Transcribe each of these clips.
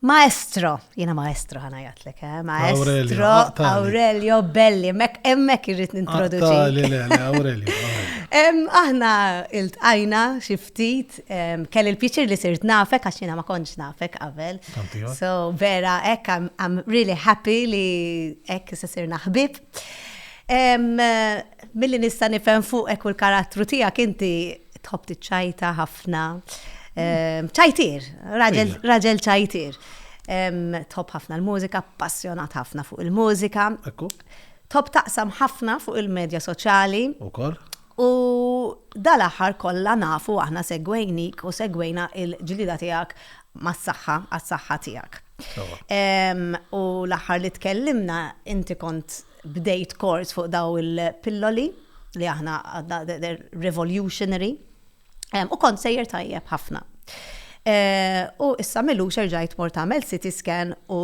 Maestro, jena maestro ħana jatlek, eh? Maestro Aurelio Belli, mek emmek irrit nintroduċi. Li le, Aurelio. Aħna il-tqajna xiftit, kell il-pieċir li sirt nafek, għax jena ma konċ nafek għavel. So, vera, ek, I'm really happy li ek se sirna ħbib. Milli nista' nifhem fuqek u l-karattru tiegħek inti tħobb tiċċajta ħafna. Ehm, ċajtir, raġel Ejja. raġel ċajtir. Ehm, Tħobb ħafna l-mużika, passjonat ħafna fuq il-mużika. Ekku, Tħobb taqsam ħafna fuq il-medja soċjali. ukoll. U dal-aħħar kollha nafu aħna segwejnik u segwejna il-ġlida tiegħek mas-saħħa, għas-saħħa tiegħek. Sawa. Em, U l-aħħar li tkellimna, inti kont Bdejt kors fuq dawn il-pilloli li aħna għadna they're revolutionary u kont sejjer tajjeb ħafna. U issa m'ilux erġajt mort għamilt CT scan u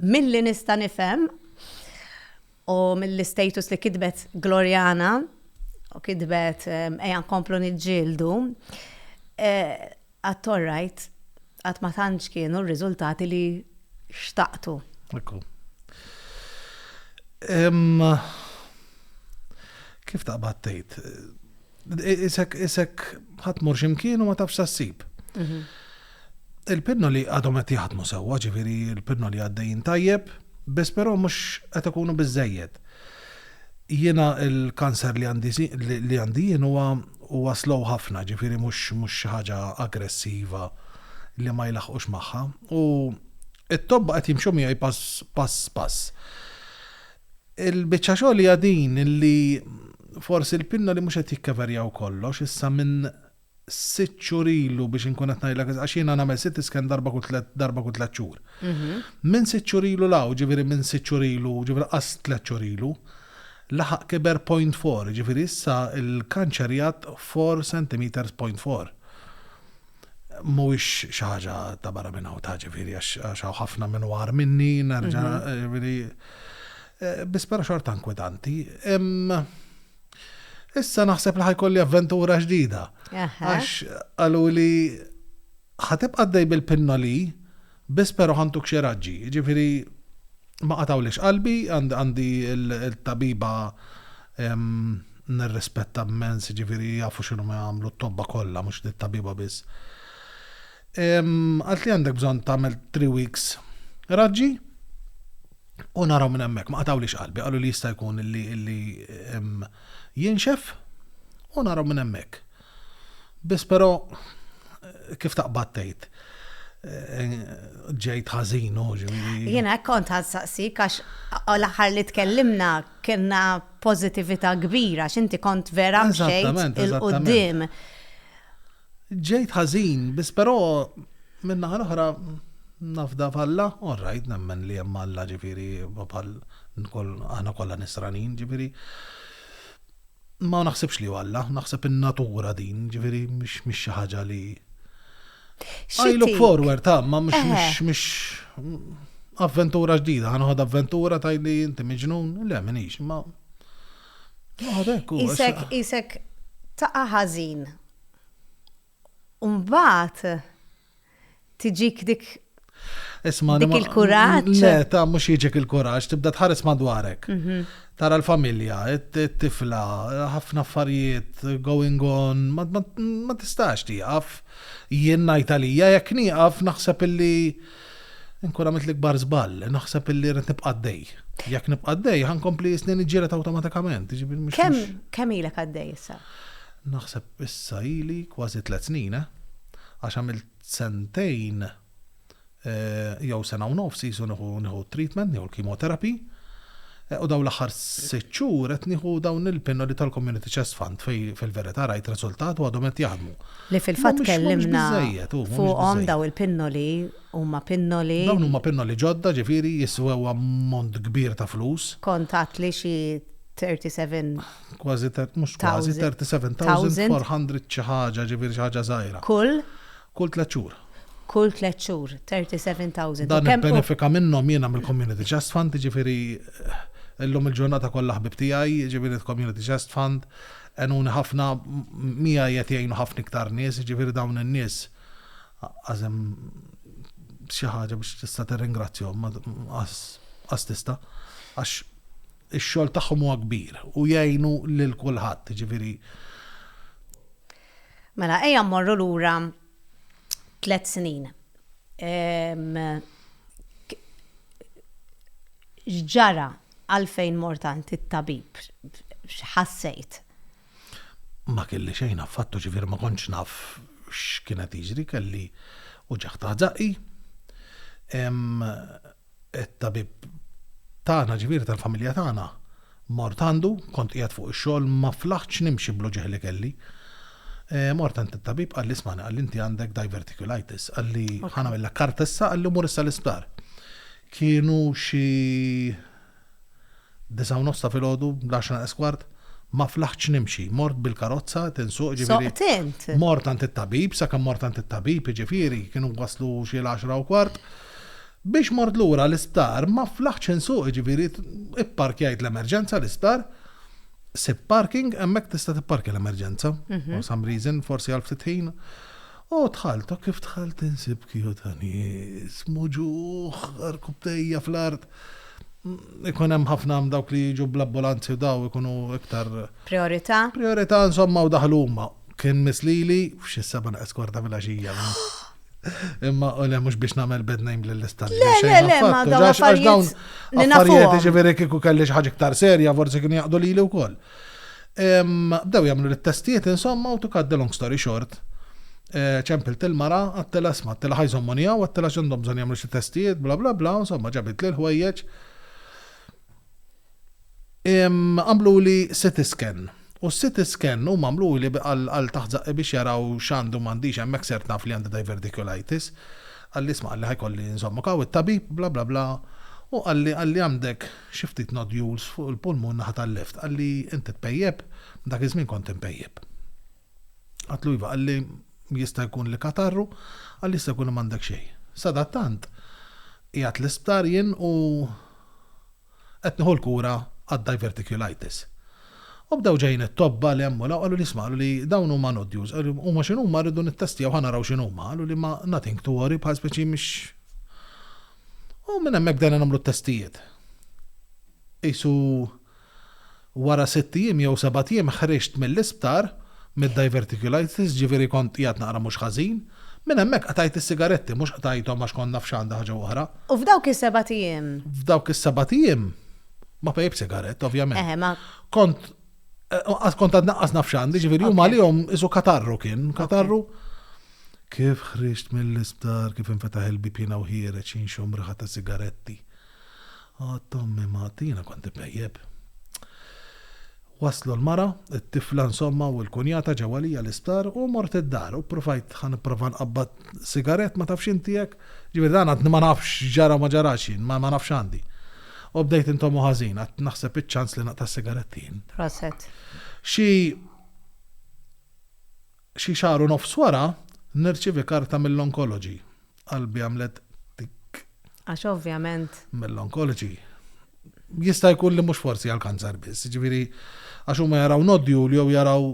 milli nista' nifhem u mill-istatus li kitbet Gloriana u kitbet ejja nkomplu niġġieldu, Qatt all right, qatt ma tantx kienu r-riżultati li xtaqtu. Ekku. Kif taqbad tgħid? Isek isek ħadd mur x'imkien u ma tafx sa ssib. Mhm. Il-pinno li għadhom qed jaħdmu sewwa, ġifieri l-pinno li għaddejjin tajjeb, biss però mhux qed ikunu biżejjed. Jiena l-kanser li għandi li għandi jien huwa huwa slow ħafna, ġifieri mhux mhux xi ħaġa aggressiva li ma jlaħħqux magħha u t-tobba qed jimxu miegħi pass pass pass. Il-biċċa xogħol hija din li forsi l-pinnoli mhux qed jikkeverjaw kollox issa minn sitt xhur ilu biex inkun qed ngħidlek eżatt, għax jiena nagħmel CT scan darba kull tliet darba kull tliet xhur. Minn sitt xhur ilu 'l hawn, ġifieri minn sitt xhur ilu, ġifieri qas tliet xhur ilu, laħaq kiber point four, jiġifieri issa l-kanċer jgħadd four centimetres point four. Mhuwiex xi ħaġa ta' barra minn hawn ta' ġifieri għax hawn ħafna minn huwa agħar minni, nerġa' jiġifieri. Biss però xorta inkwetanti. Issa naħseb li ħajkolli avventura ġdida. Għax għalu li ħatib għaddej bil-pinnoli, biss pero ħantuk xeraġġi. Ġifiri, ma qatawlix qalbi, għandi il-tabiba nirrispetta mens, ġifiri jafu xinu ma għamlu t-tobba kolla, mux li t-tabiba biss. Għalt li għandek bżonn tagħmel three weeks raġġi u naraw minn hemmhekk. Ma qatgħulix qalbi, qalu li jista' jkun li jinxef u naraw minn hemmhekk. Biss però kif taqbad tgħid eh, ġejt ħażin u ġifieri. Jiena hekk kont ħassaqsik għax l-aħħar li tkellimna kienna pożittività kbira x'inti kont vera mxejt il-qudiem. Ġejt ħażin, biss però min-naħa l-oħra nafda f'Alla, all right nemmen li hemm Alla ġifieri bħal aħna kollha nisranin ġifieri ma naħsibx li hu Alla, naħseb in-natura din ġifieri mhix xi ħaġa li I look forward, ta, ma mhux mhux avventura ġdida, ħanħod avventura tajli inti miġnun, le minix, ma Isek, isek, taqa ħażin. Umbat, tiġik dik Isma, dik il-kuraġġ. Le, ta' mhux jiġek il-kuraġġ, tibda tħares madwarek. Mhm. Tara l-familja, it-tifla, ħafna affarijiet going on, ma tistax tieqaf. Jien ngħid għalija jekk nieqaf naħseb illi Inkun għamilt l-ikbar żball, naħseb illi rrid nibqa' għaddej. Jekk nibqa' għaddej, ħa nkompli snin iġġieled awtomatikament. Jiġifieri mhux- Kemm kemm ilek għaddej issa? Naħseb issa ili kważi tliet snin, eh. Għax għamilt sentejn eh, jew sena u nofs qisu nieħu nieħu t-treatment, nieħu l-chemotherapy. Eh, U dawn l-aħħar sitt xhur qed nieħu dawn il-pinnoli tal-Community Chest Fund fej fil-verità rajt riżultat u għadhom qed jaħdmu. Li fil-fatt Mhumiex- mhumiex tkellimna biżżejjed, u mhumiex fuqhom biżżejjed. daw il-pinnoli huma pinnoli. Dawn huma pinnoli ġodda, ġifieri jiswew ammont kbir ta' flus. Kont għedt li xi 37 Kważi thir- mhux kważi, Thousand. 37,400 xi ħaġa, ġifieri xi ħaġa żgħira. kull Kull tliet xhur. kull tliet xhur, 37,000. Dan U kemm hu- nibbenefika minnhom jiena mill-Community Chest Fund, jiġifieri llum il-ġurnata kollha ħbieb tiegħi, jiġifieri l-Community Chest Fund, Għenuni ħafna, miegħi qed jgħinu ħafna iktar nies, jiġifieri dawn in-nies qas hemm xi ħaġa biex tista' tirringrazzjahom, qas tista', għax ix-xogħol tagħhom huwa kbir u jgħinu lil kulħadd, jiġifieri. Mela ejja mmorru lura tliet snin. X'ġara Għalfejn mort għand it-tabib? X'ħassejt? Ma kelli xejn affattu, ġifieri ma kontx naf x'kien qed jiġri, kelli uġigħ taħt żaqqi. It-tabib tagħna, ġifieri tal-familja tagħna, mort għandu, kont qiegħed fuq ix-xogħol ma flaħtx nimxi bl-uġigħ li kelli. Eh, mort għand it-tabib qalli smani qalli inti għandek diverticulitis, qalli ħana mill karta issa qalli mur issa l-isptar. Kienu xi disa' u nofs ta' filgħodu, l-għaxra naqas kwart, ma flaħtx nimxi, mort bil-karozza qed insuq, jiġifieri. Soqt int? Mort għand it-tabib, sakemm mort għand it-tabib, jiġifieri, kienu waslu xi l-għaxra u kwart, biex mort lura l-isptar ma flaħtx insuq, jiġifieri, ipparkjajt l-emerġenza l-isptar, sibt parking, hemmhekk tista' tipparkja l-emerġenza, for some reason, forsi għal ftit ħin. O dħalt, o kif dħalt insib kiju ta' nies, muġugħ, rkubtejja fl-art. Ikun hemm ħafna hemm dawk li jiġu bl-abbulanzi u daw ikunu iktar. Priorità? Priorità insomma u daħlu huma. Kien miss lili f'xi seba' neqes kwarta filgħaxija. Imma u le mhux biex nagħmel bad name lill-istat. Le, le, le, ma dawn affarijiet. Affarijiet jiġifieri kieku kelli xi ħaġa iktar serja forsi kienu jaqdu lili wkoll. Bdew jagħmlu l-testijiet insomma u to cut the long story short. Eh, ċempilt il-mara, għattela sma, għattela ħajżom monija, għattela xandom bżon jamlu xie testijiet, bla bla bla, insomma ġabit li l-ħwejjeċ. Għamlu li city scan. U city scan u għamlu li għal taħzaq biex jaraw xandu mandiġ għemmek ser taf li għandu diverticulitis. Għalli sma għalli ħajkolli insomma kaw il tabib bla bla bla. U għalli għalli għandek xi ftit nodules fuq il-pulmun naħa tal-left. Qalli, Inti tpejjep? Dak iż-żmien kont inpejjep. Għadtlu iva, qalli, Jista' jkun li katarru? Qalli, Jista' jkun li m'għandek xejn. Sadattant, qiegħed l-isptar jien u qed nieħu l-kura għad-diverticulitis. U bdew ġejjin it-tobba li hemm u 'l hawn, qaluli, Isma', qaluli, dawn huma nodules, qaluli, huma x'inhuma rridu nittestjaw ħa naraw x'inhuma, qaluli, ma nothing to worry, bħal speċi mhix. U minn hemmhekk bdejna nagħmlu t-testijiet. Qisu wara sitt ijiem jew sebat ijiem ħriġt mill-isptar mid-diverticulitis, ġifieri kont qiegħed naqra mhux ħażin. Minn hemmhekk qtajt is-sigaretti, mhux qtajthom għax kont naf x'għandha ħaġa u oħra. U f'dawk is-sebat ijiem? F'dawk is-sebat ijiem ma pejjpt sigarett, ovvjament. Eħe, ma. Kont, kont għadni anqas naf x'għandi, ġifieri huma għalihom qisu katarru kien, katarru. Kif ħriġt mill-isptar, kif infetaħ il-bieb jiena u ħiereġ inxomm riħa ta' sigaretti. Għadt ommi Mati, jiena kont ipejjep. Waslu l-mara, it-tifla insomma u l-kunjata ġew għalija l-isptar u mort id-dar u ppruvajt ħa nipprova nqabbad sigarett ma tafx inti hekk, jiġifieri dan għadni ma nafx x'ġara u ma ġarax jien, ma nafx x'għandi. U bdejt intommu ħażin, għadt naħseb iċ-ċans li naqta' s-sigaretti jien. Proset. Xi. Xi xahar u nofs wara, nirċievi karta mill-onkoloġi. Qalbi għamlet tikk. Għax ovvjament. Mill-onkoloġi. Jista' jkun li mhux forsi għall-kanser biss, jiġifieri għax huma jaraw nodule jew jaraw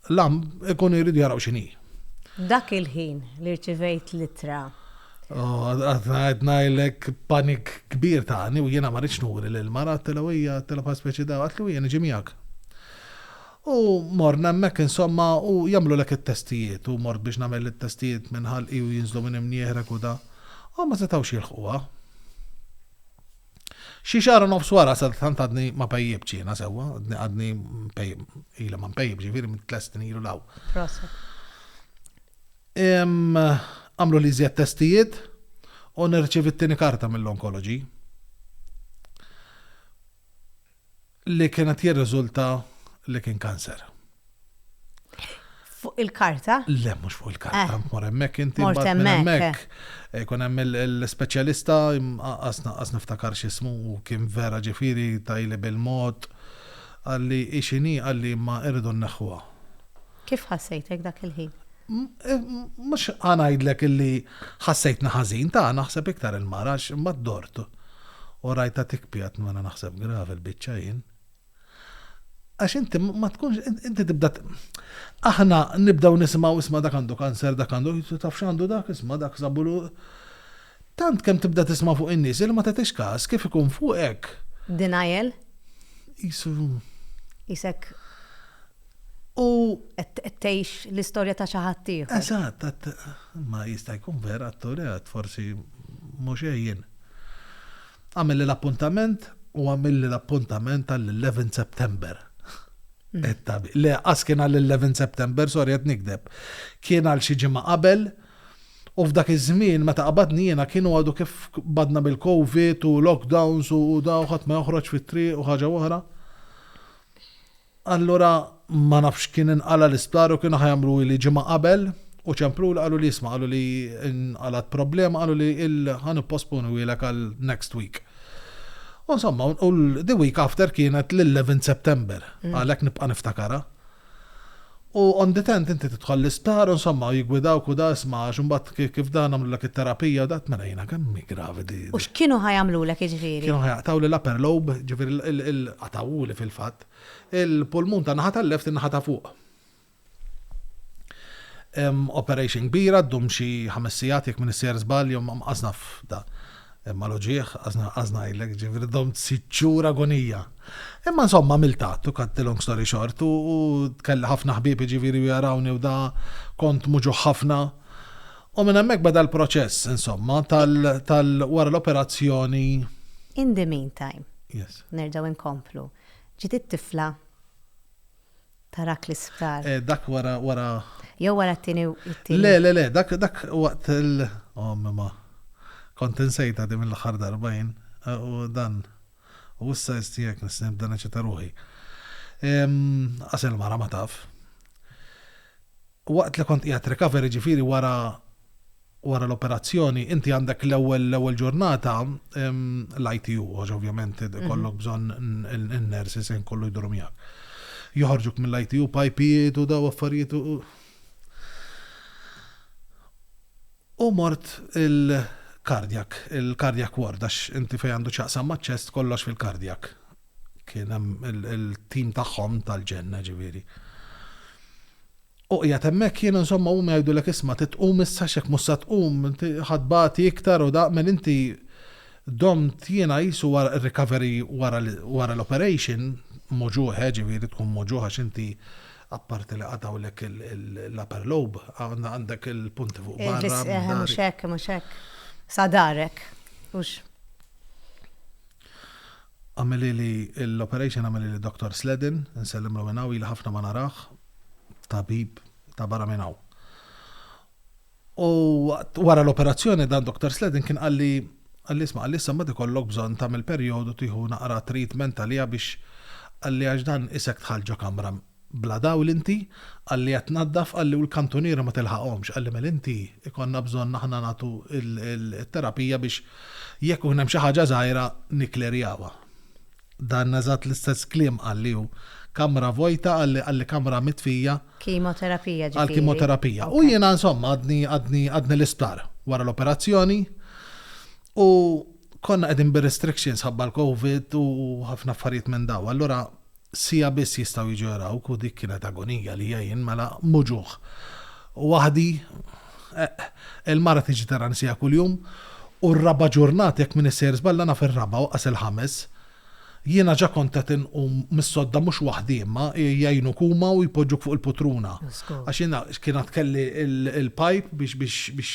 lump ikunu jridu jaraw x'inhi. Dak il-ħin li rċivejt l-ittra. Għad ngħid ngħidlek panik kbir tani u jiena ma rridx nuri lill-mara, għedtilha u hija għedtilha bħal speċi dgħa, għedtli u hija niġi miegħek. U morna hemmhekk insomma u jagħmlulek it-testijiet u mort biex nagħmel it-testijiet minn ħalqi u jinżlu minn imnni jeħreg u da. U ma setgħux jilħquha. Xi xahar u nofs wara sadattant għadni ma pejjibtx jiena sewwa, għadni għadni mpejjib, ili ma mpejjib ġifieri minn tliet snin ilu law. Proset. Em, għamlu li żjed testijiet u nirċievi t-tieni karta mill-onkoloġi. li kien qed jirriżulta li kien kanser. Fuq il-karta? Le, mhux fuq il-karta, eh. mor hemmhekk inti mort hemmhekk. Eh. Ikun hemm l-ispeċjalista qas niftakar x'ismu u kien vera ġifieri tajli bil-mod għalli ixini għalli ma irridu nneħħuha. Kif ħassejtek dak il-ħin? Mhux ħa ngħidlek illi ħassejtni ħażin, ta' naħseb iktar il-mara għax imbagħad dort u rajtha tikpi għad mela naħseb gravi il-biċċa jien. Għax inti ma tkunx inti tibda aħna nibdew nisimgħu isma' dak għandu kanser dak għandu taf x'għandu dak isma' dak sabulu tant kemm tibda tisma' fuq in-nies li ma tagħtix każ kif ikun fuqek. Denial? Isu. Isek u qed tgħix l-istorja ta' xi ħadd ieħor. Eżatt, ma jista' jkun vera atturi għad forsi mhux għejjin. Għamilli l-appuntament u għamilli l-appuntament għall-11 September. Le, qas kien għall-11 September, sorry qed nikdeb. Kien għal xi ġimgħa qabel u f'dak iż-żmien meta qabadni jiena kienu għadu kif badna bil-COVID u lockdowns u daw ħadd ma joħroġ fit-triq u ħaġa oħra. Allura ma nafx x'kien inqala' l-isptar u kienu ħa jagħmluhi li ġimgħa qabel u ċempluli qalu li isma' qalu li nqalgħet problema qalu li il ħa nipposponuhielek għal next week. U insomma u the week after kienet l-11 September għalhekk nibqa' niftakarha. U on the tenth inti tidħol l-isptar u nsomma u jiggwidawk u da isma' għax imbagħad ki kif da nagħmlulek it-terapija u da mela jiena kemm hi gravi di U di. x'kienu ħa jagħmlulek jiġifieri? Kienu ħa jaqtgħuli l-upper lobe, jiġifieri l il il qatgħuhuli fil-fatt, il-pulmun tan-naħa tal-left in-naħa ta' fuq. Operation kbira ddum xi ħames sigħat jekk m'inisser żball jew ma mqassna f'da. Imma l-uġigħ, għażna, għażna ngħidlek, ġifieri domt sitt xhur agonija. Imma insomma għamilt att u cut the long story short u kelli ħafna ħbieb jiġifieri u jarawni u da kont muġugħ ħafna. U minn hemmhekk beda l-proċess insomma tal tal wara l-operazzjoni. In the meantime. Yes. Nerġgħu inkomplu. Ġiet it-tifla. Tarak l-isptar. Eh, dak wara, wara. Jew wara t-tini, t-tini. Le, le, le, dak, dak waqt il. Oh, mema. Kont insejta di mill-axar darba jien, eh, u dan. U issa jistijek nisnib dan eċita ruħi. Ehm, asel mara ma taf. Waqt li kont qiegħed recovery ġifieri wara wara l-operazzjoni inti għandek l-ewwel l-ewwel ġurnata l-ITU għax ovvjament ikollok bżonn in-nurses ħin kollu jduru miegħek. Joħorġuk mill-ITU pajpijiet u daw affarijiet u u mort il-kardjak, il-kardjak ward għax inti fejn għandu x'jaqsam maċ-ċest kollox fil-kardjak. kien hemm il-tim tagħhom tal-ġenna ġifieri. U qiegħed hemmhekk jien insomma huma jgħidulek isma' titqum issa x'hekk mhux sa tqum ħadd bagħti iktar u daq mel inti domt jiena qisu wara recovery wara l-operation moġuħe ġifieri tkun moġuħ għax inti apparti li qatgħulek l-upper lobe għandek il-punti fuq barra. Mhux hekk, mhux hekk. Sadarek. Għamilili l-operation għamilili Doktor Sledden, insellimlu minn hawn, ili ħafna ma narah, tabib ta' barra minn hawn. U wara l-operazzjoni dan Doktor Sledden kien qalli qalli isma' qalli issa mbagħad ikollok bżonn tagħmel perjodu tieħu naqra treatment għaliha biex qalli għax dan isek tħall ġo kamra Bla dawl inti? Qalli qed tnaddaf, qalli u l-kantuniera ma tilħaqhomx, qalli mela inti ikollna bżonn aħna nagħtu t-terapija biex jekk ikun hemm xi ħaġa żgħira nikklerjawha. Dan eżatt l-istess kliem qalli hu. Kamra vojta, qalli, qalli kamra mitfija. Kimoterapija ġifieri. Għall-kimoterapija. U jiena insomma għadni, għadni, għadni l-isptar wara l-operazzjoni u konna qegħdin bir-restrictions ħabba l-Covid u ħafna affarijiet minn dawn. Allura Siegħa biss jistgħu jiġu jarawk u dik kienet agonija għalija jien mela muġugħ waħdi eqq. Il-mara tiġi tarani siegħa kuljum u r-raba' ġurnata jekk minix sejjer żball naf ir-raba' u qas il-ħames. Jiena ġa kont qed inqum mis-sodda mhux waħdi imma jgħinuk huma u jpoġġuk fuq il-putruna għax jiena kien għad kelli l-pipe biex biex biex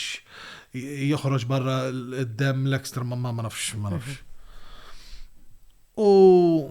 joħroġ barra d-demm l-extra ma nafx ma nafx. U.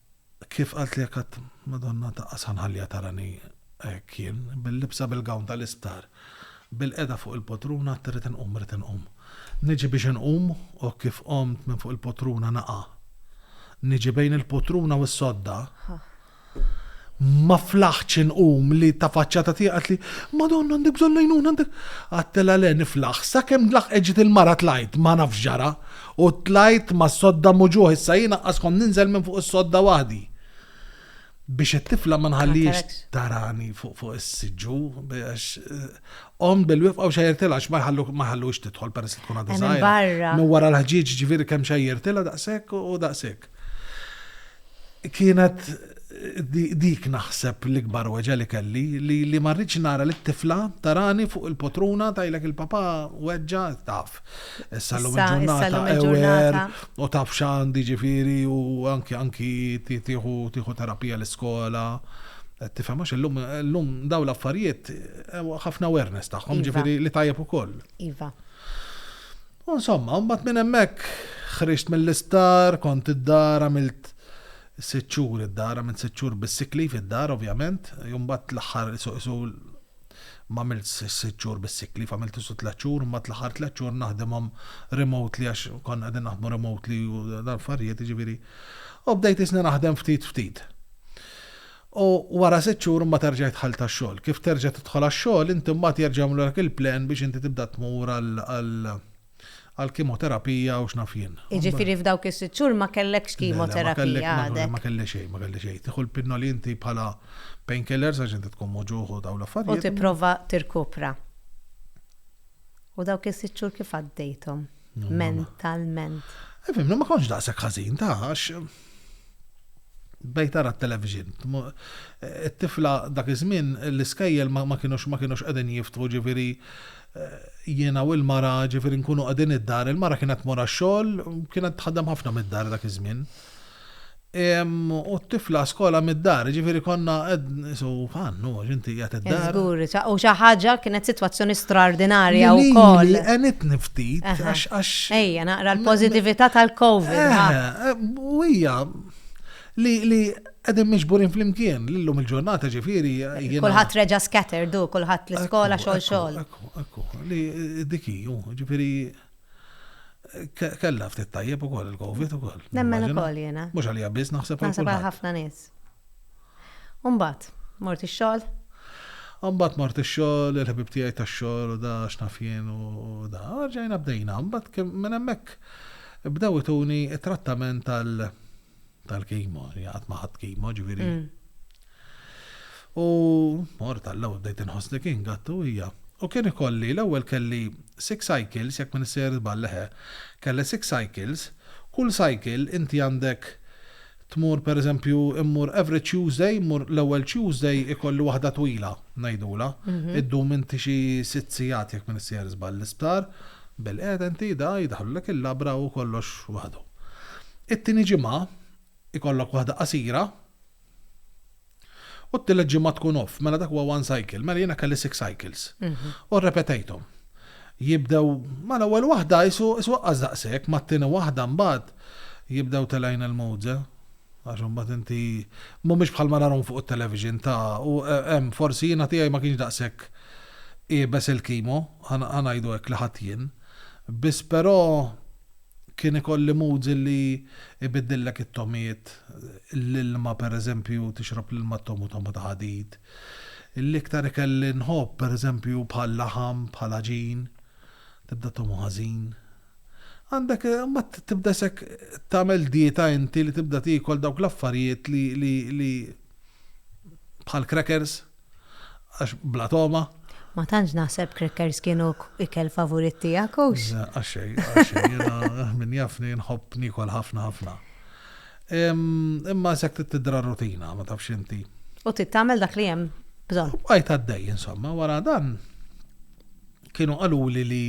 Kif qaltlek qatt Madonna taqqas ħa nħalliha tarani hekk jien, bil-libsa bil-gown tal-isptar, bilqiegħda fuq il-potruna għad irrid inqum irrid inqum. Niġi biex inqum u kif qomt minn fuq il-potruna naqa'. Niġi bejn il-potruna u s-sodda, ma flaħtx inqum li tafaċċata tiegħi qaltli, Madonna għandek bżonn l-għajnuna għandek. Għadtilha le niflaħ, sakemm laħqet ġiet il-mara tlajt ma nafx x'ġara U tlajt mas-sodda muġugħ, issa jien aqqaskom ninżel minn fuq is-sodda waħdi. Biex it-tifla ma nħallihiex tarani fuq is-siġġu, biex omm bil-wifqa u xejjertilha għax ma jħallux tidħol peress li tkun għadha żgħira. Minn wara l-ħġieġ ġifieri kemm xejjertilha daqshekk u daqshekk. Kienet dik naħseb l-ikbar weġa' li kelli li li ma rridx nara lit-tifla tarani fuq il-potruna tgħidlek il-papa weġġa' taf. Issa llum il-ġurnata ewer u taf x'għandi ġifieri u anki anki tieħu terapija l-iskola. Tifhem għax illum illum dawn l-affarijiet ħafna awareness tagħhom iva. ġifieri li tajjeb ukoll. Iva. U insomma, mbagħad minn hemmhekk ħriġt mill-isptar, kont id-dar għamilt sitt xhur id-dar, għamilt sitt xhur bis-sick leave id-dar ovvjament, u mbagħad l-aħħar isu isu m'għamiltx is-sitt xhur bis-sick leave, għamilt isu tliet xhur, mbagħad l-aħħar tliet xhur naħdimhom remotely għax konna qegħdin naħdmu remotely u l-affarijiet, jiġifieri. U bdejt isni naħdem ftit ftit. U wara sitt xhur imbagħad erġa' jidħal tax-xogħol. Kif terġa' tidħol għax-xogħol, inti mbagħad jerġa' jagħmlulek il-plan biex inti tibda tmur għall-kimoterapija u x'naf jien. Jiġifieri f'dawk is-sitt xhur ma kellekx kimoterapija għadek? Ma kelli xejn, ma kelli xejn. Tieħu l-pinnoli inti bħala painkillers għax inti tkun mewġugħ u dawn l-affarijiet. U tipprova tirkupra. U dawk is-sitt xhur kif għaddejthom mentalment? Ifhimni, ma kontx daqshekk ħażin, taf, għax. Bdejt ara t-television. It-tifla dak iż-żmien l-iskejjel ma kinux ma kinux qegħdin jiftħu ġifieri jiena u l-mara ġifieri nkunu qegħdin id-dar. Il-mara kienet tmur għax-xogħol kienet tħaddem ħafna mid-dar dak iż-żmien. U t-tifla skola mid-dar ġifieri konna Isu għannu, għax inti jgħat id-dar. Zgur, u xaħġa kienet situazzjoni straordinarja u koll. Għanit niftit, għax għax. Ejja, naqra l-pozitivita tal-Covid. Eh, eh, u hija li li għedin miġburin fl-imkien, l-lum il-ġurnata ġifiri. Kulħat reġa scatter, du, kulħat l-iskola xol xol. Ekku, ekku, li eh, diki, ġifiri kella ftit tajjeb u koll il-Covid u koll. Nemmen u koll jena. Mux għalija biz naħseb. Naħseb għal ħafna nis. U mbagħad, mort ix-xogħol? U mbagħad mort ix-xogħol, il-ħbieb tiegħi tax-xogħol u da, x'naf jien u da. Rġajna bdejna. Mbagħad minn hemmhekk bdew ituni t-trattament tal tal-kimo, qatt ma ħadt kimo, ġifieri. U mort għall-ewwel bdejt inħossni kien gatt u hija. U kien ikolli l-ewwel kelli six cycles, jekk ma nissejjer żball, eħe, kelli six cycles, kull cycle inti għandek tmur per eżempju immur every Tuesday, immur l-ewwel Tuesday ikolli waħda twila, ngħidulha, iddum inti xi sitt sigħat jekk m'iniex sejjer żball l-isptar, bilqiegħda inti da jdaħħlulek il-labra u kollox waħdu. It-tieni ġimgħa ikollok waħda qasira, U t-tielet ġimgħa tkun off, mela dak huwa one cycle, mela jiena kelli six cycles. U rrepetejthom. Jibdew, ma l-ewwel waħda qisu qisu aqqas daqshekk, mat-tieni waħda mbagħad jibdew telgħin il-mowze. Għax imbagħad inti mhumiex bħal ma narahom fuq it-television ta' u hemm forsi jiena tiegħi ma kienx daqshekk iebes il-kimo, ħa ngħidu hekk li ħadt jien. Biss però kien ikolli moods illi ibiddillek it-togħmiet, l-ilma pereżempju tixrob l-ilma togħmu togħma ta' ħadid. L-iktar ikel li nħobb pereżempju bħal-laħam, bħal-għaġin, tibda togħmu ħażin. Għandek, imbagħad tibda isek tagħmel dieta inti li tibda tiekol dawk l-affarijiet li li li bħal-crackers. Għax bla togħma. Ma tantx naħseb crackers kienu ikel favorit tiegħek hux? Le, għax xejn, għax xejn. Jiena min jafni nħobb niekol ħafna ħafna. Imma issa qed tidra rutina, ma tafx inti. U trid tagħmel dak li hemm bżonn. Bqajt għaddej insomma, wara dan kienu qaluli li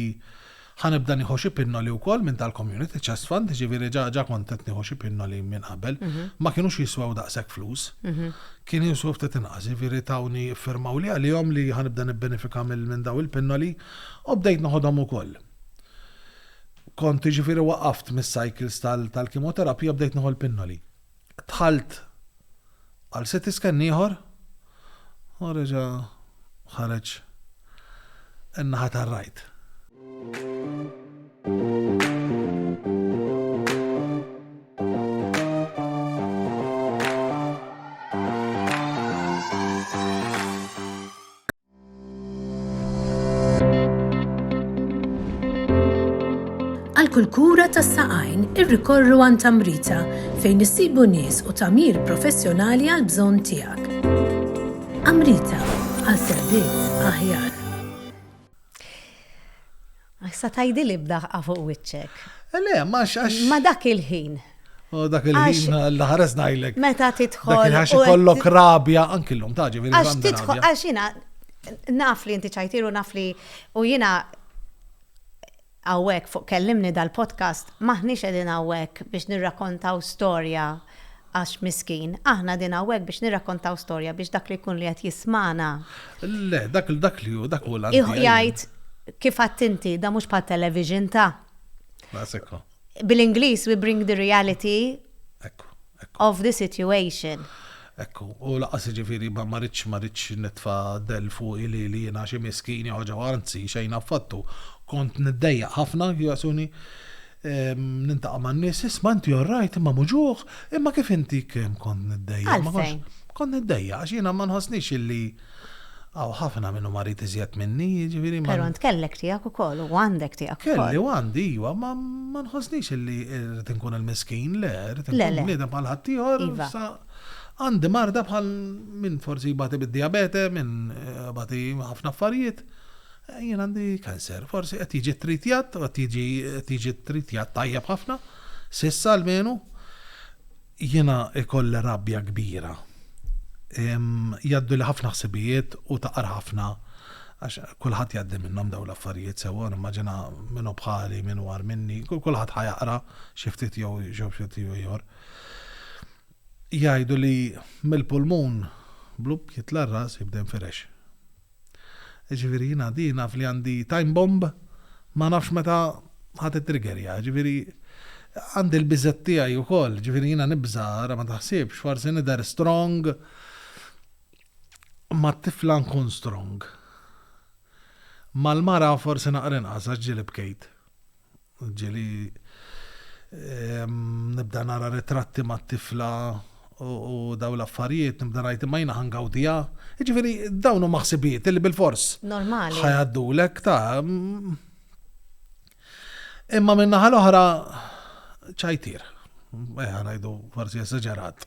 Ħa nibda nieħu xi pinnoli wkoll minn tal-Community Chest Fund, jiġifieri ġa ġa kont qed nieħu xi pinnoli minn qabel. Ma kinux jiswew daqshekk flus. Kienu jiswew ftit inqas, jiġifieri tawni iffirmawli għalihom li ħa nibda nibbenefika minn dawn il-pinnoli u bdejt noħodhom ukoll. Kont jiġifieri waqaft mis-cycles tal-kimoterapija u bdejt nieħu l-pinnoli. Dħalt għal CT scan ieħor u reġa' ħareġ in-naħa tar-right. Għal kull kura tas saqajn irrikorru għan tamrita fejn issibu nies u tamir professjonali għal bżonn tiegħek. Amrita għal servizz aħjar. Għax sa tgħidili b'daħqa fuq wiċċek. Le, ma għax għax. Ma dak il-ħin. U dak il-ħin Alla ħares ngħidlek. Meta tidħol. Dak il-ħax ikollok rabja anki llum taġi veri. Għax tidħol għax jiena naf li inti ċajtiru naf li u jiena għawek fuq kellimni dal-podcast maħniex edin għawek biex nirrakontaw storja Għax miskin, aħna qegħdin hawnhekk biex nirrakkontaw storja biex dak li jkun li qed jismagħna. Le, dak li dak li hu, dak hu l-għan tiegħi. Ih jgħid, kif għedt inti, dan mhux bħal television ta'. Laqas hekk hu. Bil-Ingliż we bring the reality. Hekk hu. Of the situation. Hekk hu. U laqas jiġifieri ma ma ridx ma ridx nitfa' dell fuqi li li jiena xi miskin jew ħaġa, anzi xejn affattu. Kont niddejjaq ħafna, Jasuni. Nintaqa' man-nies, isma' inti all right, imma muġugħ, imma kif inti kemm kont niddejjaq. Għalfejn? Kont niddejjaq għax jiena ma nħossnix illi hawn ħafna min hu marid iżjed minni, jiġifieri ma. Però int kellek tiegħek ukoll u għandek tiegħek ukoll. Kelli u għandi iva, imma ma nħossnix illi rrid inkun il-miskin, le, rrid inkun bniedem bħal ħaddieħor, issa għandi marda bħal min forsi jbati bid-dijabete, min jbati ħafna affarijiet. Jien għandi cancer. Forsi qed jiġi tritjat, qed jiġi qed jiġi tritjat tajjeb ħafna, s'issa almenu. Jiena ikoll rabja kbira. Jgħaddu li ħafna ħsibijiet u taqar ħafna għax kulħadd jgħaddi minnhom dawn l-affarijiet sewwa nimmaġina min hu bħali, min war minni, kulħadd ħajaqra xi ftit jew xi ftit jew ieħor. Jgħidu li mill-pulmun blub jitla' r-ras jibda jinfirex. Jiġifieri jiena di naf li għandi time bomb ma nafx meta ħa tittriggerja. Jiġifieri għandi l-biżgħat tiegħi wkoll. Jiġifieri jiena nibża' ara ma taħsibx, forsi nidher strong mat-tifla nkun strong. Mal-mara forsi naqra inqas għax ġieli bkejt. Ġili nibda nara ritratti ma' tifla u daw l-affarijiet, nibda najt ma' jina ħangawdija. Ġifiri, dawn u maħsibijiet li bil-fors. Normali. ħajaddu l-ek ta' Imma minna ħal-oħra ċajtir. Eħa najdu forsi esagerat.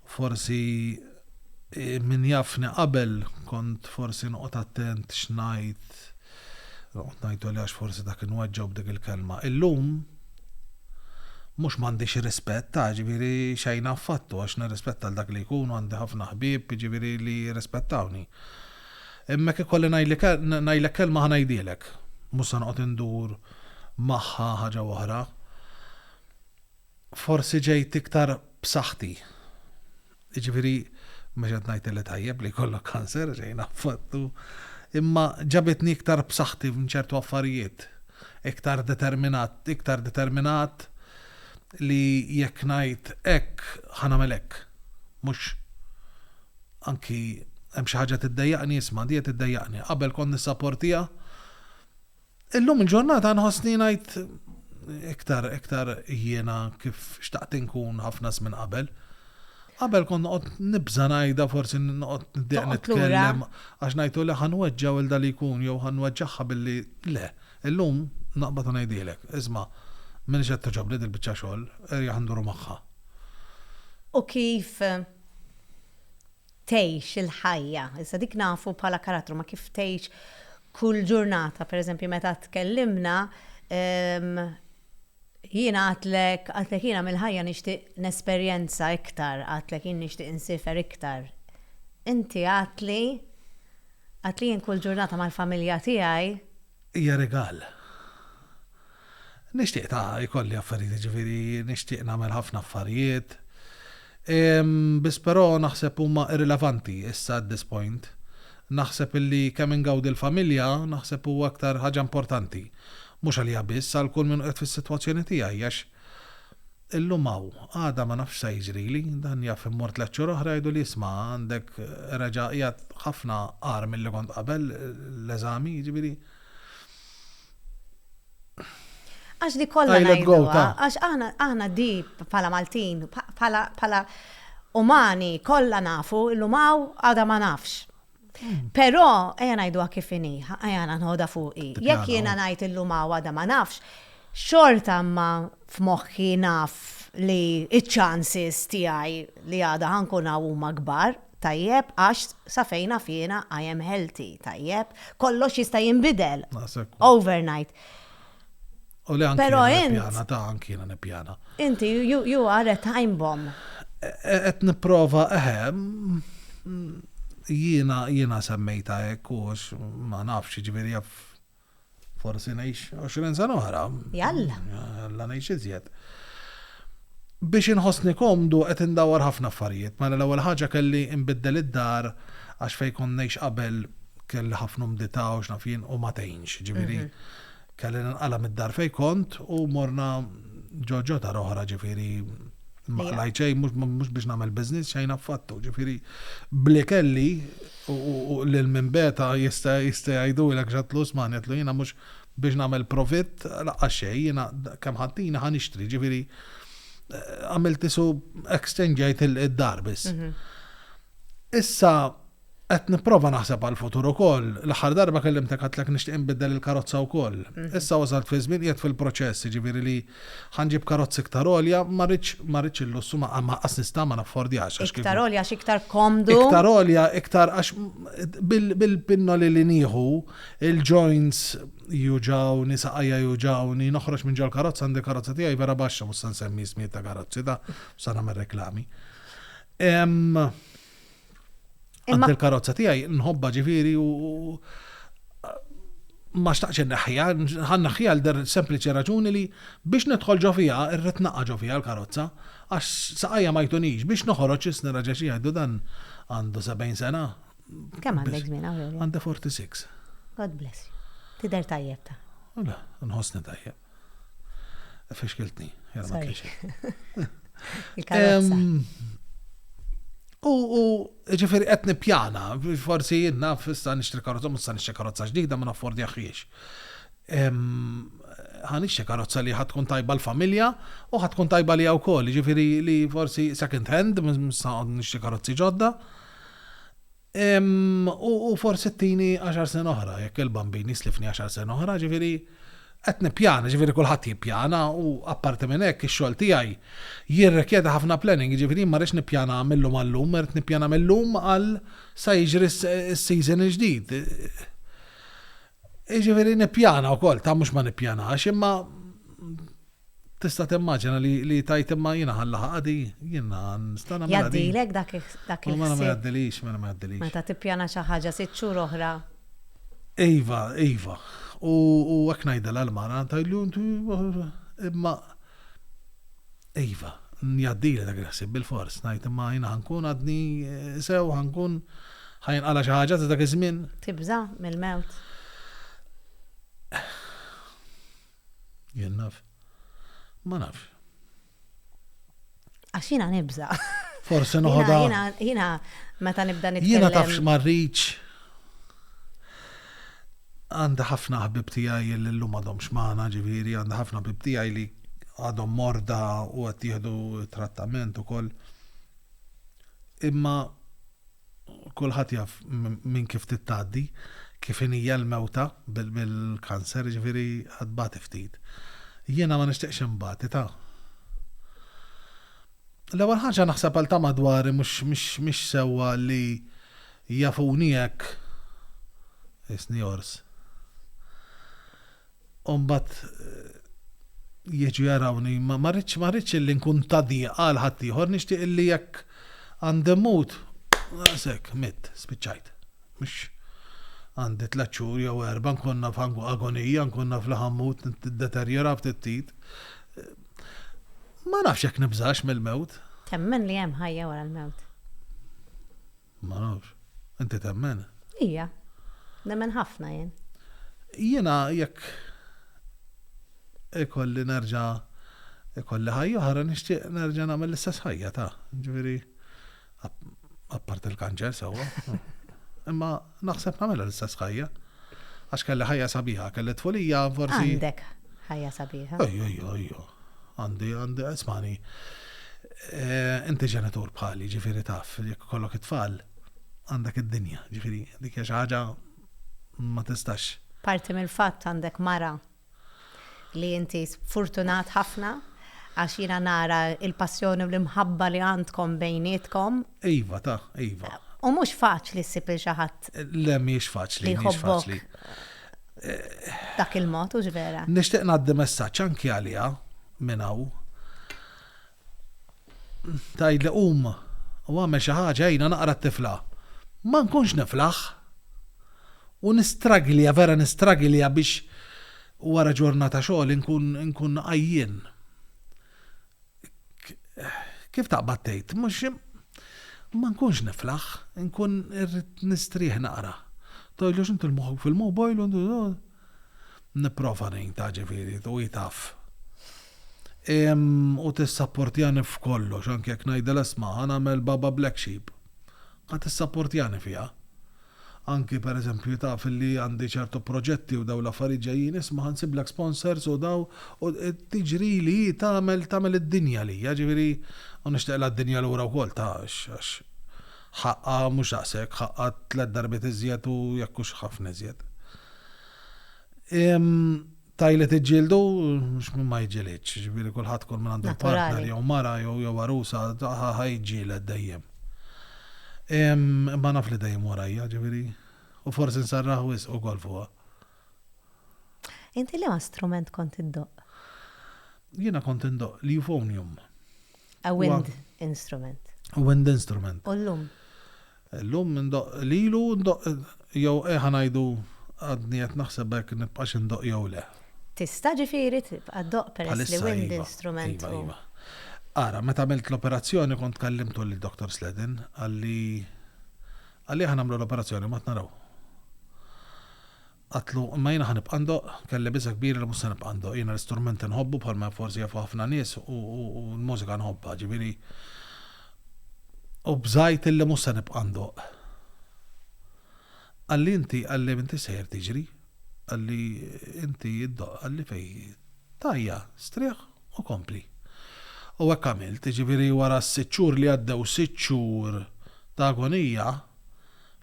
Forsi min jafni qabel kont forsi noqgħod attent x'ngħid, noqgħod ngħid għoli għax forsi dak inweġġgħu b'dik il-kelma. Illum mhux m'għandix rispett, ta' ġifieri xejn affattu għax nirrispetta l dak li jkun u għandi ħafna ħbieb ġifieri li jirrispettawni. Imma jekk ikolli ngħidlek kelma ħa ngħidhielek. Mhux se noqgħod indur magħha ħaġa oħra. Forsi ġejt iktar b'saħħti. Jiġifieri, mhux qed ngħid li tajjeb li jkollok kanser, xejn affattu, imma ġabitni iktar b'saħħti f'ċertu affarijiet, iktar determinat, iktar determinat li jekk ngħid hekk, ħa nagħmel hekk. Mhux anki hemm xi ħaġa tiddejjaqni, isma' di qed iddejjaqni. Qabel kont nissaportiha. Illum il-ġurnata nħossni ngħid iktar iktar jiena kif xtaqt inkun ħafna żmien qabel. Qabel kont noqgħod nibża' ngħidha forsi noqgħod niddeq nitkellem għax ngħidu li ħan weġġa' wilda li jkun jew ħan weġġagħha billi le. Illum naqbad u ngħidilek, isma' m'iniex qed togħġobni dil-biċċa xogħol, erjaħ nduru magħha. U kif tgħix il-ħajja. Iżda dik nafu bħala karattru, ma kif tgħix kull ġurnata, per eżempju, meta tkellimna, jiena għatlek, għatlek jiena mill-ħajja nixtieq nesperjenza iktar, għatlek jien nixtieq insifer iktar. Inti għatli, għatli jien kull ġurnata mal-familja tiegħi, hija rigal. Nixtieq ta' jkolli affarijiet jiġifieri nixtieq nagħmel ħafna affarijiet. Biss però naħseb huma irrilevanti issa at this point. Naħseb illi kemm ingawdi l-familja naħseb huwa aktar ħaġa importanti. Mhux għalija biss għal kull min qiegħed fis-sitwazzjoni tiegħi għax Illum hawn, għada ma nafx sa jiġrili, dan jaf immur tliet xhur oħra jgħiduli isma' għandek reġa' qiegħed ħafna agħar milli kont qabel l-eżami, jiġifieri. Għax dik kollha ngħiduha, għax aħna aħna di bħala Maltin, bħala bħala umani kollha nafu illum hawn għada ma nafx. Però, ejja ngħidu kif inhi, ejja nħodha fuqi. Jekk jiena ngħid illum għada ma nafx, xorta ma f'moħħi naf li iċ-chances tiegħi li għada ħankun hawn huma kbar, tajjeb, għax sa fejn naf jiena I am healthy, tajjeb, kollox jista' jinbidel overnight. U li anki nippjana ta' anki nippjana. Inti, you, you are a time bomb. Et e, niprofa, eħe, jiena, jiena semmejta ekkux, ma nafx, ġviri jaff, forsi nejx 20 sena oħra. Jalla. Jalla nejx iżjed. Biex inħossni komdu qed indawar ħafna affarijiet, mela l-ewwel ħaġa kelli nbiddel id-dar għax fejn kont ngħix qabel kelli ħafna mdita u x'naf jien u ma tgħinx, ġifieri. Mhm. Kelli ninqala' mid-dar fejn kont u morna ġo ġo dar oħra ġifieri ma qlajt xejn mhux biex nagħmel business xejn affattu. Ġifieri bli kelli u lil minn beta jista' jista' jgħidulek x'għatlu Usman għedlu jiena mhux biex nagħmel profitt laqqas xejn jiena kemm ħaddini ħa nixtri ġifieri għamilt isu exchangeajt id-dar biss. Issa Qed nipprova naħseb għall-futur ukoll. L-aħħar darba kellimtek għedtlek nixtieq inbiddel il-karozza wkoll. Issa wasalt fi żmien qiegħed fil-proċess, jiġifieri li ħa nġib karozza iktar għolja, ma rridx ma rridx il-lussu ma anqas nista' ma naffordjax għax kieku. Iktar għolja għax iktar komdu. Iktar għolja iktar għax bil-pinnoli li nieħu, il-joints juġgħuni, saqajja juġgħuni, noħroġ minn ġol-karozza għandi karozza tiegħi vera baxxa mhux se nsemmi ismijiet ta' karozzi ta' se nagħmel reklami. Imma il-karozza tiegħi nħobba ġifieri u ma xtaqx naħħija, ħan naħħija l-der sempliċi raġuni li biex nidħol ġo fija, irrit naqqa ġo fija l-karozza, għax saqajja ma jtunix, biex noħoroġ isni raġa xi jgħidu dan għandu 70 sena. Kemm għandek żmien għawel? Għandi 46. God bless you. Tider tajjeb ta. Nħossni tajjeb. Fixkiltni, jara ma kienx. U ġifiri qed nippjana, forsi jinnaf fissa nixtri karozza, mhux sa nixtri karozza ġdida ma naffordjahiex. Ħa nixtri karozza li ħad tkun tajba l-familja u ħad tkun tajba li wkoll, ġifiri li forsi second hand, mhux sa nixtri karozzi ġodda. U forsi t-tini 10 sen oħra, jekk il-bambin jislifni 10 sen oħra, ġifiri, qed nippjana, ġifiri kulħadd jippjana u apparti minn hekk ix-xogħol tiegħi jirrikjeda ħafna planning, ġifiri ma rridx nippjana mill-lum għal-lum, rrid nippjana mill-lum għal sa jiġri s-season il-ġdid. Jiġifieri nippjana wkoll, ta' mhux ma nippjanax, imma tista' timmaġina li, li tajt imma jiena ħallaħa għadi, jiena nista' nagħmel. Jgħaddilek dak dak il Mela ma jgħaddilix, mela ma jgħaddilix. Meta tippjana xi ħaġa sitt xhur oħra. Iva, iva. U hekk ngħidilha l-mara, ngħidlu imma Iva, jgħaddili dak il-ħsieb bilfors, ngħid imma jiena ħankun għadni sew, ħankun ħajinqala xi ħaġa ta' dak iż-żmien. Tibża' mill-mewt? Jien naf. Ma nafx. Għax jiena nibża. Forse noħodha. Jiena meta nibda nitkellem. Jiena tafx marriċ. Għandi ħafna ħbib tiegħi li llum għadhom xmana, ġifieri għandi ħafna ħbib tiegħi li għadhom morda u qed jieħdu trattament ukoll. Imma kulħadd jaf minn kif tittgħaddi, kif inija l-mewta bil-kanser, jiġifieri għad bagħti ftit. Jiena ma nixtieqx inbati ta'. L-ewwel ħaġa naħseb għal ta' madwari mhux sewwa li jafuni hekk. Isni ors. U mbagħad jiġu jarawni, ma ma rridx ma rridx illi nkun ta' dieqa għal ħaddieħor, nixtieq illi jekk għandi mmut, naqas hekk, mitt, spiċċajt. Mhux għandi tliet xhur jew erbgħa nkun naf agonija, nkun naf li ħa mmut, niddeterjora ftit ftit. Ma nafx jekk nibżax mill-mewt. Temmen li hemm ħajja wara l-mewt? Ma nafx. Inti temmen? Ija. Nemmen ħafna jien. Jiena jekk ikolli nerġa' ikolli ħajja oħra nixtieq nerġa' nagħmel l-istess ħajja ta' ġifieri apparti l-kanċer sewwa. Imma naħseb nagħmilha l-istess ħajja. Għax kelli ħajja sabiħa, kelli tfulija forsi. Għandek ħajja sabiħa. Ejja, ejja, ejja. Għandi, għandi, ismani. Inti ġenitur bħali, ġifiri taf, jekk kollok it-tfal, għandek id-dinja, ġifiri, dik hija xi ħaġa ma tistax. Parti mill-fatt għandek mara li inti fortunat ħafna għax jiena nara l-passjoni u l-imħabba li għandkom bejnietkom. Iva, ta, iva. U mhux faċli ssib lil xi ħadd. Le mhijiex faċli, mhijiex faċli. Dak il-mod hux vera. Nixtieq ngħaddi messaġġ anki għaliha minn hawn. Tgħidli qum u għamel xi ħaġa għinha naqra t-tifla. Ma nkunx niflaħ. U nistragilja, vera nistragilja biex wara ġurnata xogħol inkun għajjien. Kif taqbad tgħid, mhux ma nkunx niflaħ, nkun irrid nistrieħ naqra. Tgħidlu x'inti l-moħħok fil-mobile u nipprova ngħin ta' ġifieri u hi taf. U tissapportjani f'kollox anke jekk ngħidilha isma' ħa nagħmel Baba Black Sheep. Ħa tissapportjani fiha. Anki per eżempju taf li għandi ċertu proġetti u dawn l-affarijiet ġejjin isma' ħa nsiblek sponsors u daw u tiġrili hi tagħmel tagħmel id-dinja għalija ġifieri u nixtieqlha d-dinja lura wkoll ta' għax ħaqqha mhux daqshekk ħaqqha tliet darbiet iżjed u jekk hux ħafna iżjed. Tajli tiġġieldu, mhux min ma jġilidx, ġifieri kulħadd kull minn għandu partner jew mara jew jew arusa ħajġġieled dejjem. Imma naf li dejjem warajja, ġifieri, u forsi nsarraħ wis u gol fuqha. Inti li ma strument kont indoq? Jiena kont indoq li euphonium. A wind instrument. A wind instrument. U l-lum? Illum indoqq lilu u ndoqq jew eh ngħidu għadni qed naħseb hekk nibqax indoqq jew le. Tista' ġifieri tibqa' ddoqq peress li wind instrument hu. Bħalissa iva, iva. Ara, meta għamilt l-operazzjoni kont kellimtu lil Doctor Sledden, qalli qalli aħna nagħmlu l-operazzjoni mbagħad naraw. Għedtlu, Imma jiena ħa nibqa' ndoqq. Kelli biża' kbira li mhux se nibqa' ndoqq. Jiena l-istrument inħobbu bħalma forsi jafu ħafna nies u l-mużika nħobbha, ġifieri. U bżajt illi mhux se nibqa' ndoqq. Qalli, Inti, qalli, m'intix sejjer tiġri. Qalli, Inti ddoqq, qalli fej. Tajja, strieħ u kompli. U hekk għamilt. Ġifieri wara s-sitt xhur li għaddew, sitt xhur ta' agonija,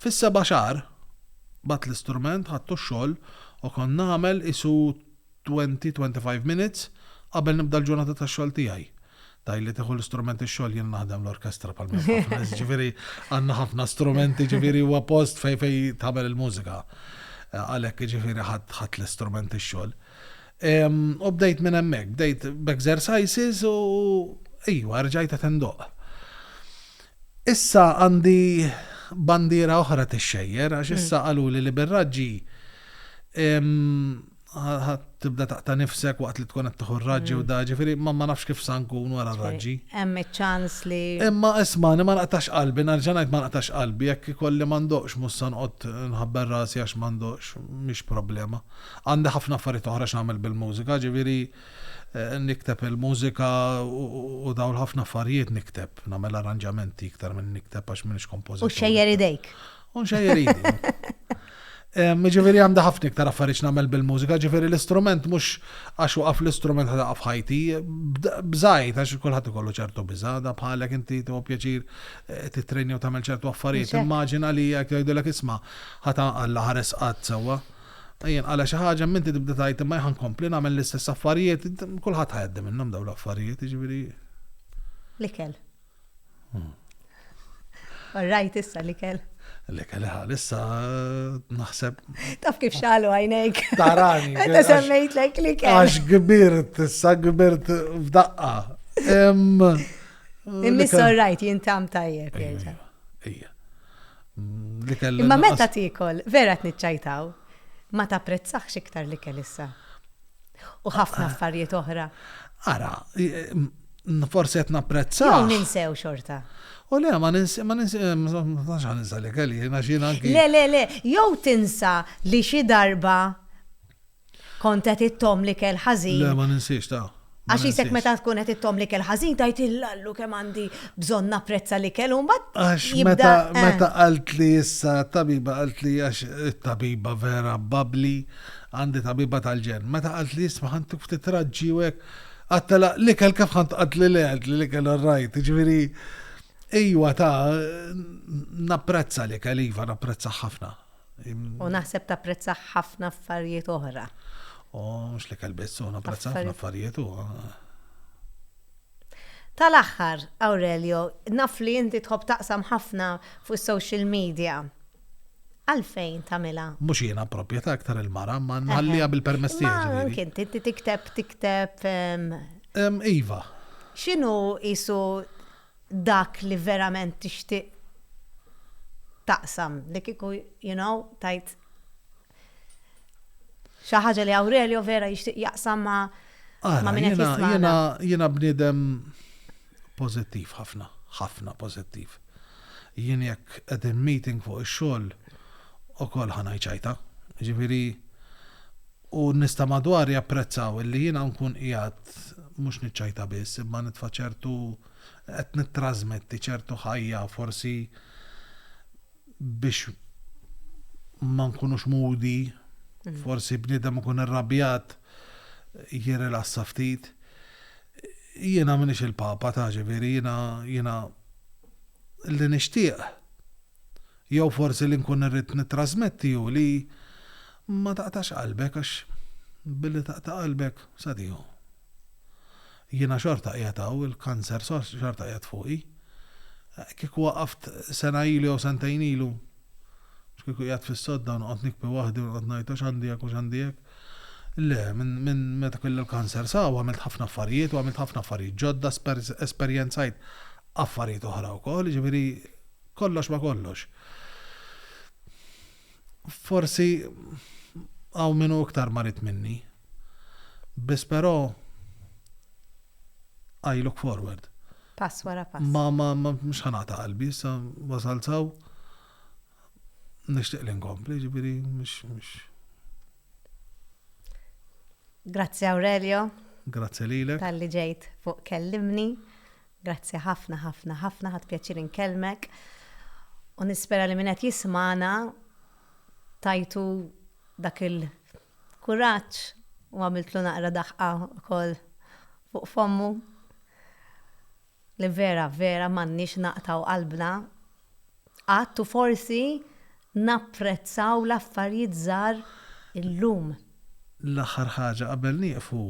Fis-seba' xahar, bgħatt l-istrument, ħadtu x-xogħol u kont nagħmel qisu twenty, twenty five minutes qabel nibda l-ġurnata tax-xogħol tiegħi. Tajli tieħu l-istrument ix-xogħol jien naħdem l-orkestra bħal minn ħafna nies, jiġifieri għandna ħafna strumenti jiġifieri huwa post fejn fejn tagħmel il-mużika. Għalhekk jiġifieri ħadd ħadd l-istrument ix-xogħol. U bdejt minn hemmhekk, bdejt b'exercises u ejwa rġajt qed indoqq. Issa għandi bandiera oħra tixxejjer għax issa qaluli li bir-raġġi ħa tibda taqta' nifsek waqt li tkun qed tieħu r-raġġi u da, ġifieri ma nafx kif sa nkun wara r-raġġi. Hemm iċ-ċans li. Imma ismagħni ma naqtax qalbi, nerġa' ngħid ma naqtax qalbi, jekk ikolli ma ndoqqx mhux se noqgħod nħabber rasi għax ma ndoqqx, mhix problema. Għandi ħafna affarijiet oħra x'nagħmel bil-mużika, ġifieri. Nikteb il-mużika u dawn ħafna affarijiet nikteb, nagħmel arranġamenti iktar minn nikteb għax m'iniex kompożitur. U xejjer idejk. U xejjer idejk. Ġifieri għandha ħafna iktar affarijiet nagħmel bil-mużika, ġifieri l-istrument mhux għax waqaf l-istrument ħa taqaf ħajti, bżajt għax kulħadd ikollu ċertu biża' da bħalek inti tuha pjaċir eh, titrejni u tagħmel ċertu affarijiet. Immaġina li jekk jgħidulek isma' ħata Alla ħares qatt sewwa. Ejja nqala' xi ħaġa, imma inti tibda tgħid imma jien ħa nkompli nagħmel l-istess affarijiet, kulħadd ħa jgħaddi minnhom dawn l-affarijiet, jiġifieri. L-ikel. Orrajt issa l-ikel. L-ikel ħal issa naħseb. Taf kif xalu għajnejk. Tarani. Meta semmejt lek l-ikel. Għax gbirt, issa gbirt f'daqqa. Imma. Imma orrajt jintam tajjeb. Ija. li kellu. Imma meta tikol, vera tniċċajtaw, ma tapprezzax iktar li kell issa. U ħafna affarijiet oħra. Ara, forsi qed napprezza. Jew ninsew xorta. U le, ma ninsew, ma ninsew, ma ninsew li kelli, jiena xina anki. Le, le, le, jew tinsa li xi darba Kont qed ittomm l-ikel ħażin. Le, ma ninsiex, ta. Għax jisek meta tkun qed ittom li kell ħażin tajt il-lallu kemm għandi bżonn napprezza li kell u mbagħad. Għax meta eh. meta qalt li issa tabiba qalt li għax it-tabiba vera babli għandi tabiba tal-ġen. Meta qalt li jisma' ħantik ftit raġġi u hekk għattela li kell kif ħant qalt li le li li kell rajt, ġifieri ejwa ta' napprezza li kell iva napprezza ħafna. U naħseb tapprezza ħafna affarijiet oħra. U mhux li kelbis, u napprezza ħafna affarijiet u. Tal-aħħar, Aurelio, naf li inti tħobb taqsam ħafna fuq social media. Għalfejn tamila? Mhux jiena proprjetà aktar il-mara, ma nħallija bil-permess tiegħi. Kien inti tikteb, tikteb. Ehm, ehm, iva. X'inhu isu dak li verament tixtieq taqsam li kieku you know tajt xi ħaġa li Aurelio vera jixtieq jaqsam ma' ma' min qed jismana. Jiena bniedem pożittiv ħafna, ħafna pożittiv. Jien jekk qegħdin meeting fuq ix-xogħol ukoll ħa ngħid xajta. Ġifieri U n-nies ta' madwar japprezzaw illi jiena nkun qiegħed mhux niċċajta biss, imma nitfa' ċertu, qed nittrażmetti ċertu ħajja forsi biex ma nkunux moody, forsi bniedem ikun irrabjat jirrilassa ftit. Jiena m'iniex il-Papa, taf, ġifieri jiena, jiena li nixtieq jew forsi li nkun irrid nittrażmetti hu li Ma taqtax qalbek għax billi taqta' qalbek sa tieħu. Jiena xorta qiegħed hawn, il-kanser xorta qiegħed fuqi. Kieku waqaft sena ilu jew sentejn ilu, mhux kieku qiegħed fis-sodda u noqgħod nikbi waħdi u noqgħod ngħid għax għandi hekk u x'għandi hekk. Le, minn meta kelli l-kanser sa hawn għamilt ħafna affarijiet u għamilt ħafna affarijiet ġodda, esperjenzajt affarijiet oħra wkoll, jiġifieri kollox ma' kollox. Forsi hawn min hu iktar marid minni. Biss però I look forward. Pass wara pass. Ma ma ma mhux ħanata qalbi, issa wasalt saw nixtieq li nkompli, ġifieri mhux mhux. Grazzi Aurelio. Grazzi lilek. Talli ġejt fuq kellimni. Grazzi ħafna ħafna ħafna ħadt pjaċir inkellmek u nispera li min qed jismagħna tajtu dak il-kuraġġ u għamiltlu naqra daħqa wkoll fuq fommu li vera vera m'għandniex naqtgħu qalbna Qatt u forsi napprezzaw l-affarijiet żgħar illum. L-aħħar ħaġa qabel nieqfu,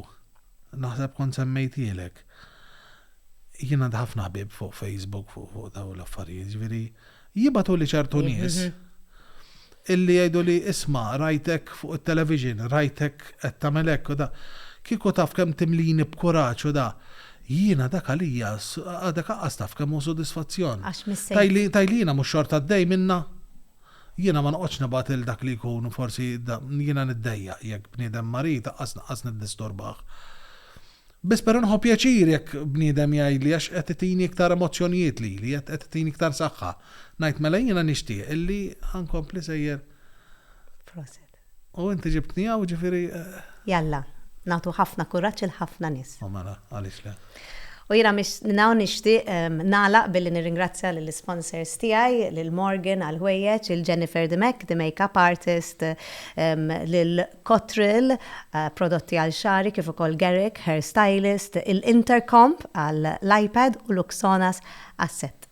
naħseb kont semmejtielek, jien għandi ħafna ħbieb fuq Facebook fuq dawn l-affarijiet, jiġifieri jibgħatuli ċertu nies Illi jgħiduli isma' rajtek fuq it-television, rajtek qed tagħmel hekk u da. Kieku taf kemm timlini b'kuraġġ u da. Jien għadak għalija, għadek aqqas taf kemm hu sodisfazzjon. Tgħidli jiena mhux xort għaddej minnha? Jiena ma noqgħodx nibgħat lil dak li jkun forsi da. Jiena niddejjaq jekk bniedem marid aqqas naqqas niddisturbah. Biss però nieħu pjaċir jekk bniedem jgħidli għax qed itini iktar emozzjonijiet lili, qed qed itini iktar saħħa. Ngħid mela jiena nixtieq illi ħa nkompli sejjer. Proset. U inti ġibtni hawn ġifieri. Jalla, nagħtu ħafna kuraġġ il ħafna nies. U mela, għaliex le. U jiena minn hawn nixtieq nagħlaq billi nirringrazzja lill-isponsors tiegħi, lil Morgan għall-ħwejjeġ, il Jennifer Dimech, the makeup artist, lil Cottrell, prodotti għal xagħri kif ukoll Garrick Hair Stylist, il-Intercomp għall-iPad u Luxonas għas-sett.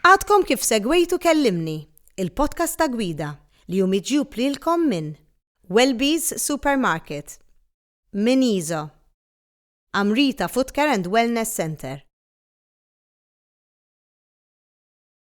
Għadkom kif segwejtu Kellimni, il-podcast ta' Gwida, li hu miġjub lilkom minn Welby's Supermarket, Miniso, Amrita Footcare and Wellness Centre,